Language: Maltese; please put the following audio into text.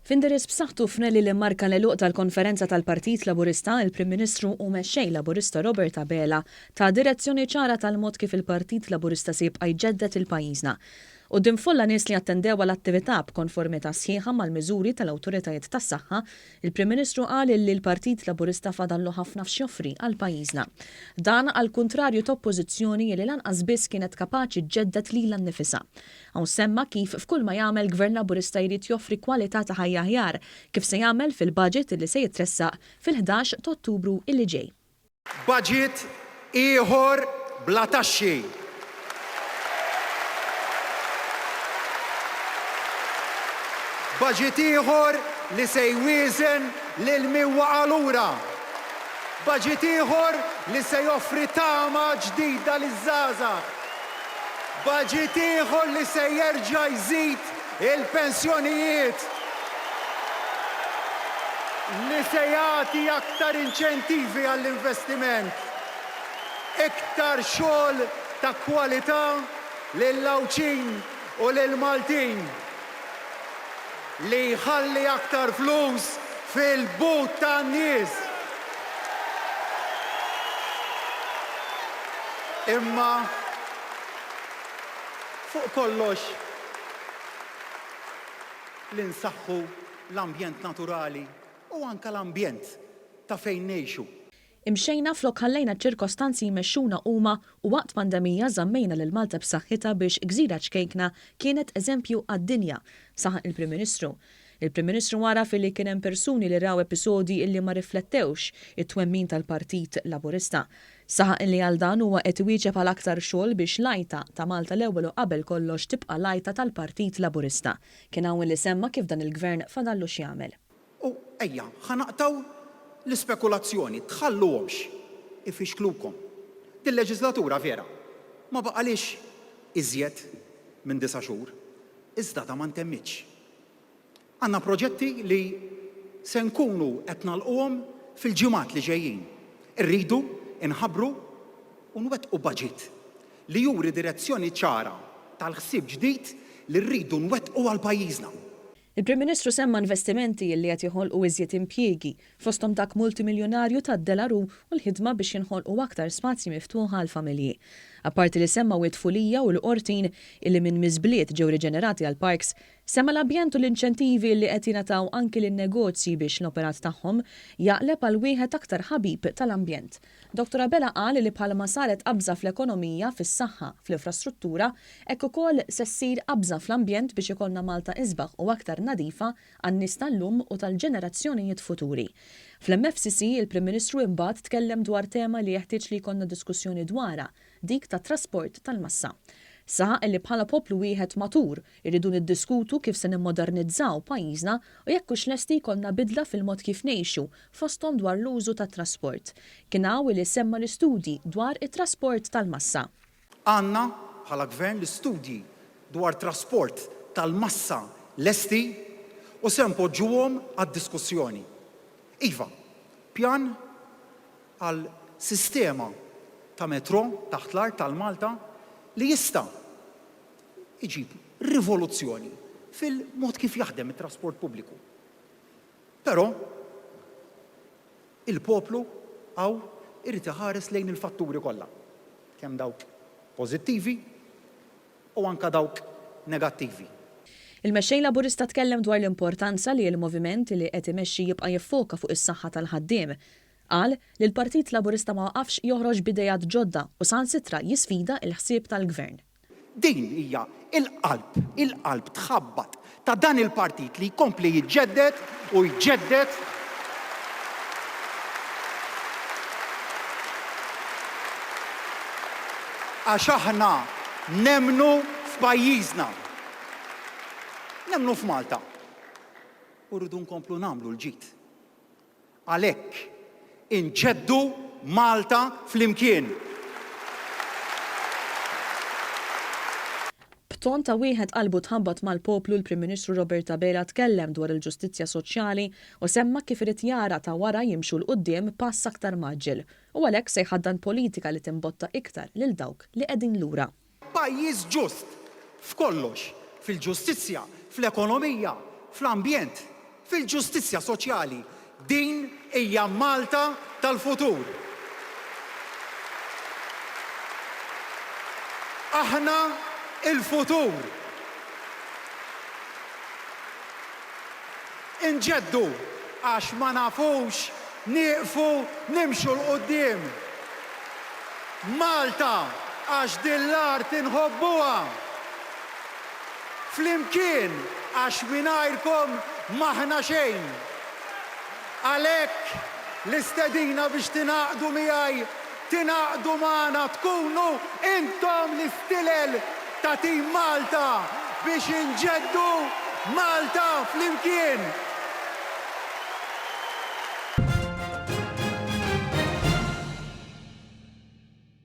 F'indirizz b'saħħtu f'rally li mmarka l-għeluq tal-konferenza tal-Partit Laburista, il-Prim Ministru u Mexxej Laburista Robert Abela ta direzzjoni ċara tal-mod kif il-Partit Laburista se jibqa' jġedded lil pajjiżna. Quddiem folla nies li attendew għal attività b'konformità sħiħa mal-miżuri tal-awtoritajiet tas-saħħa, Il-Prim Ministru qal li l-Partit Laburista fadallu ħafna x'joffri għal pajjiżna. Dan għall-kuntrarju ta' Oppożizzjoni li lanqas biss kienet kapaċi ġġedded lilha nnifisha. Hawn semma kif f'kull ma jagħmel Gvern Laburista jrid joffri kwalità ta' ħajja aħjar, kif se jagħmel fil-Budget li se jitressaq fil-ħdax t'Ottubru li ġej. Baġit ieħor bla taxxi. Baġit ieħor li se jwieżen lil min waqa' lura. Baġit ieħor li se joffri tama ġdida liż-żgħażagħ. Baġit ieħor li se jerġa' jżid Il-pensjonijiet, li se jagħti aktar inċentivi għall-investiment, iktar xogħol ta' kwalità lill-Għawdxin u lill-Maltin, li jħalli aktar flus fil-but tan-nies. Imma fuq kollox, li nsaħħu l-ambjent naturali u anke l-ambjent ta' fejn ngħixu. Imxejna flok ħallejna ċ-ċirkostanzi jmexxuna huma u waqt pandemija żammejna lil Malta b'saħħitha biex Gżira Ċkejkna kienet eżempju għad-dinja, saħaq il-Prim Ministru. Il-Prim Ministru għaraf illi kien hemm persuni li raw episodji illi ma riflettewx it-twemmin tal-Partit Laburista. Saħaq illi għal dan huwa qed iwieġeb għal aktar xogħol biex l-għajta ta' Malta l-Ewwel u qabel kollox tibqa' l-għajta tal-Partit Laburista. Kien hawn illi semma kif dan il-Gvern fadallu x'jagħmel. U ejja, ħa naqtgħu l-ispekulazzjoni, tħalluhomx ifixklukom. Dil-leġislatura vera ma baqalhiex iżjed minn disa' xhur, iżda da ma ntemmitx. Għandna proġetti li se nkunu qed nagħlquhom fil-ġimgħat li ġejjin. Irridu nħabbru u nwettqu baġit li juri direzzjoni ċara tal-ħsieb ġdid li rridu nwettqu għal pajjiżna. Il-Prim Ministru semma investimenti li qed joħolqu iżjed impjiegi fosthom dak multimiljunarju tad-Delarue u l-ħidma biex jinħolqu aktar spazji miftuħa għall-familji. Apparti li semmew it-tfulija u l-qortin, illi minn miżbliet ġew riġenerati għal parks, semma l-ambjent u l-inċentivi illi qed jingħataw anki lin-negozji biex l-operat tagħhom jaqleb għal wieħed aktar ħabib tal-ambjent. Doctor Abela qal li bħalma saret qabża fl-ekonomija, fis-saħħa, fl-infrastruttura, hekk ukoll se ssir qabża fl-ambjent biex ikollna Malta isbaħ u aktar nadifa, għan-nies tal-lum u tal-ġenerazzjonijiet futuri. Fl-MFCC, il-Prim Ministru imbagħad tkellem dwar tema li jeħtieġ li jkollna diskussjoni dwarha, dik tat-trasport tal-massa. Saħaq li bħala poplu wieħed matur, irridu niddiskutu kif se nimmodernizzaw pajjiżna u jekk hux lesti jkollna bidla fil-mod kif ngħixu, fosthom dwar l-użu tat-trasport. Kien hawn li semma l-istudji dwar it-trasport tal-massa. Għandna, bħala Gvern, l-istudji dwar trasport tal-massa lesti u se npoġġuhom għad-diskussjoni. Iva, pjan għal sistema ta' metrò taħt l-art għal Malta li jista' jġib rivoluzzjoni fil-mod kif jaħdem it-trasport pubbliku. Però, Il-poplu hawn irid iħares lejn il-fatturi kollha, kemm dawk pożittivi u anke dawk negattivi. Il-Mexxej Laburista tkellem dwar l-importanza li l-moviment li qed imexxi jibqa' jiffoka fuq is-saħħa tal-ħaddiem. Qal li l-Partit Laburista ma waqafx joħroġ b'ideat ġodda u saħansitra jisfida l-ħsieb tal-Gvern. Din hija l-qalb, il-qalb tħabbat ta' dan il-partit li jkompli jiġġedded u jġedded għax aħna nemmnu f'pajjiżna. Nemmnu f'Malta. U rridu nkomplu nagħmlu l-ġid. Għalhekk, inġeddu Malta flimkien! B'ton ta' wieħed qalbu tħabbat mal-poplu l-Prim Ministru Robert Abela tkellem dwar il-ġustizzja soċjali u semma kif irid jara ta' wara jimxu 'l quddiem pass aktar mgħaġġel u għalhekk se jħaddan politika li timbotta iktar lil dawk li qegħdin lura. Pajjiż ġust f'kollox, fil-ġustizzja, fl-ekonomija, fl-ambjent, fil-ġustizzja soċjali. Din hija Malta tal-futur. Aħna l-futur. Inġeddu għax ma nafux nieqfu nimxu 'l quddiem. Malta għax din l-art inħobbuha. Flimkien għax mingħajrkom m'aħna xejn. Għalhekk l-istedina biex tingħaqdu miegħi Tingħaqdu magħna tkunu intom l-istilel ta' Tim Malta biex inġeddu Malta flimkien!